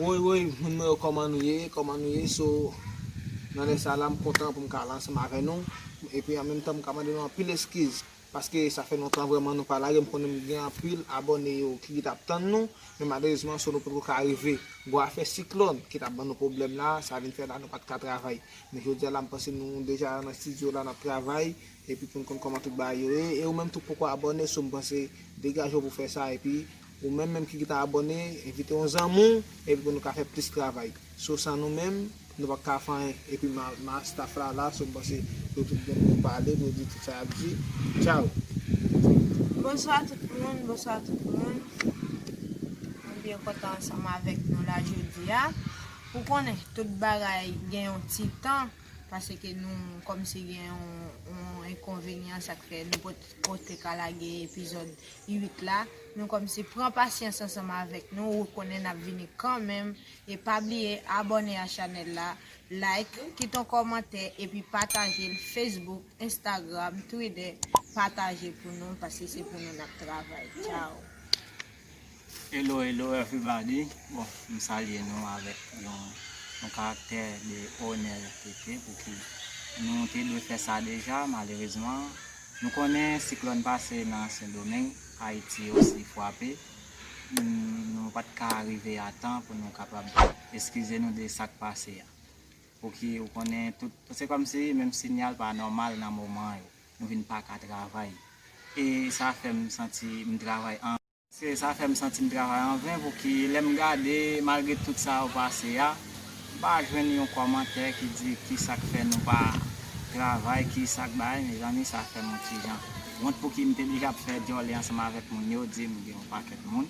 Woy woy moun mwen yo kòman nou ye kòman nou ye so nan lè sa la m kontan pou m ka la ansanm avè nou epi an menm tan m ka mande nou anpil eskiz Paske sa fè lontan vrèman nou pa lage m konnen m gen anpil abòne yo ki rete ap tann nou men malerezman so nou potko ka arive bon afè siklòn ki tap ban nou pwoblèm la sa vin fè la nou pat ka travay men jodi a la m panse nou deja nan studio la nap travay epi poun konn kòman tout bagay yo ye e ou menm tou k poko abòne so m panse degaje w pou fè sa epi Ou menm menm ki geta abòne envite yon zanmi w epi pou nou ka fè plis travay so san nou menm nou pap ka fè anyen epi ma staff la la so m panse yo tout gen dwa pale pou yo di tout sa yap di tchaww. Bonswa tout moun bonswa tout moun mwen byen kontan ansanm avèk nou la jodia ou konnen tout bagay gen yon ti tan paseke nou kòmsi gen yon enkonvenyan sak fè nou pot ka lage epizòd 8 la, nou kòmnse pran pasyans ansanm avèk nou ou konnen nap vini kanmenm e pa bliye abòne a chanèl la like kit on kòmantè epi patajel Facebook Instagram Twitter pataje pou nou paske se pou nou nap travay ciao. Hello hello everybody bon m salye nou avèk yon yon karaktè de onètete pouki nou te dwe fè sa deja malerezman Nou konnen siklòn pase nan Sendomeng, Ayiti osi fwape, nou pa t ka rive a tan pou nou kapab eskize nou de sa k pase a. Pouki ou konnen tout, se kòm si menm sinyal pa nòmal nan moman yo, nou vin pa ka travay. E sa fè m santi m travay an. Se sa fè m santi m travay an ven pouki lè m gade malgre tout sa yo pase a m pa jwenn yon kòmantè ki di kisa k fè nou pa travay kisa k bagay mezanmi sa fè m yon ti jan wont pouki m te blije ap fè djòle ansanm avèk moun yo di m gen yon pakèt moun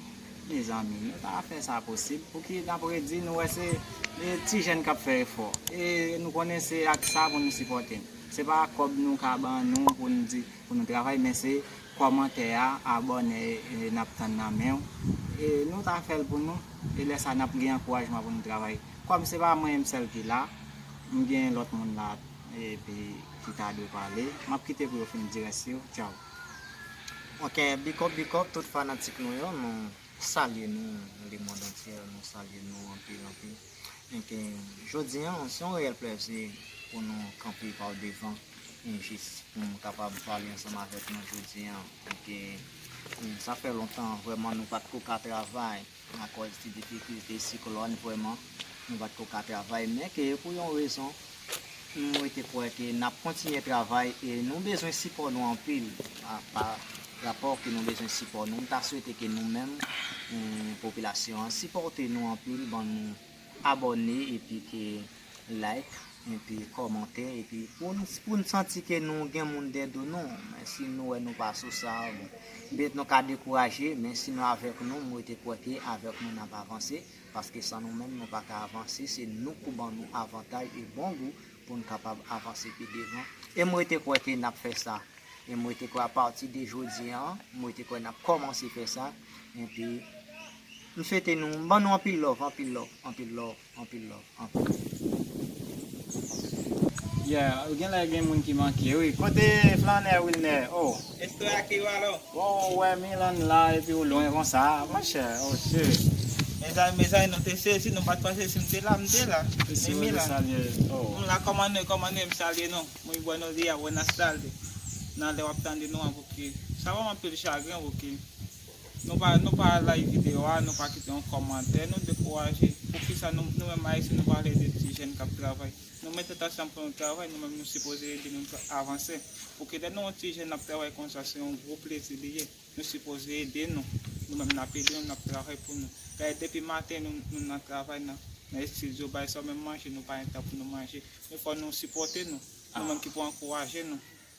mezanmi nou ta fè sa posib pouki n ap redi nou wè se ti jèn k ap fè efò e nou konnen se ak sa pou nou sipòte n se pa ak kòb nou ka ban nou pou n di pou nou travay men se Kòmantè a abòne nap tann nan menw e nou ta fèl pou nou e lè sa nap gen ankourajman pou nou travay kòm se pa mwen sèl ki la m gen lòt moun la epi ki ta dwe pale map kite pou yo fin di rès yo tchaww. Ok big up big up tout fanatik nou yo nou salye nou nan le mond antye nou salye nou anpil anpil. Donk jodi an se yon reyèl plèzi pou nou kanpe pa w devan jis pou m kapab pale ansanm avèk nou jodi an. Sa fè lontan vrèman nou pa t ko ka travay akòz ti difikilte siklòn vrèman nou pa t ko ka travay men ke pou yon rezon M rete kwè ke n ap kontinye travay e nou bezwen sipò nou anpil pa rapò ke nou bezwen sipò nou. M ta swete ke nou menm popilasyon an sipòte nou anpil ban nou abòne epi ke like epi kòmante epi pou n santi ke nou gen moun dè do nou men si nou wè nou pa sou sa bon pètèt nou ka dekouraje men si nou avèk nou m rete kwè ke avèk nou n ap avanse. paske san nou menm nou pa ka avanse, se nou pou ban nou avantay e bon gou pou n kapab avanse pi devan, e m rete kwè ke n ap fè sa, e m rete kwè a pati de jodi an, m rete kwè n ap kòmanse fè sa, enpi m swete nou, m ban nou anpil love, anpil love, anpil love, anpil love, anpil love. Yeah, genlè gen moun ki manke wi. Kote Flannè Wilner? Oh! Estoy ak yo alò? Bon ou wè Milann la epi ou lwen konsa a monchè oh Dieu. Mezanmi mezanmi nou te sezi nou pat panse sim te la m te la e Milann m la kòman nou ye kòman nou ye m salye nou muy buenos dias buenas tardes nan lè wap tande nou an pouki sa banm anpil chagren pouki nou pa nou pa like video a nou pa kite yon kòmantè nou dekouraje poukisa nou nou menm ayisyen nou pa vle ede ti jèn kap travay. Nou met tèt ansanm pou nou travay, nou menm nou sipoze ede moun avanse. Ok lè nou yon ti jèn nap travay konsa se yon gwo plezi li ye. Nou sipoze ede nou. Nou menm nap ede nou, nap travay pou nou. Gade depi maten nou nan travay nan estidyo bay sa menm manje nou pa gen tan pou nou manje. Men fò nou sipòte nou. Nou menm ki pou ankouraje nou.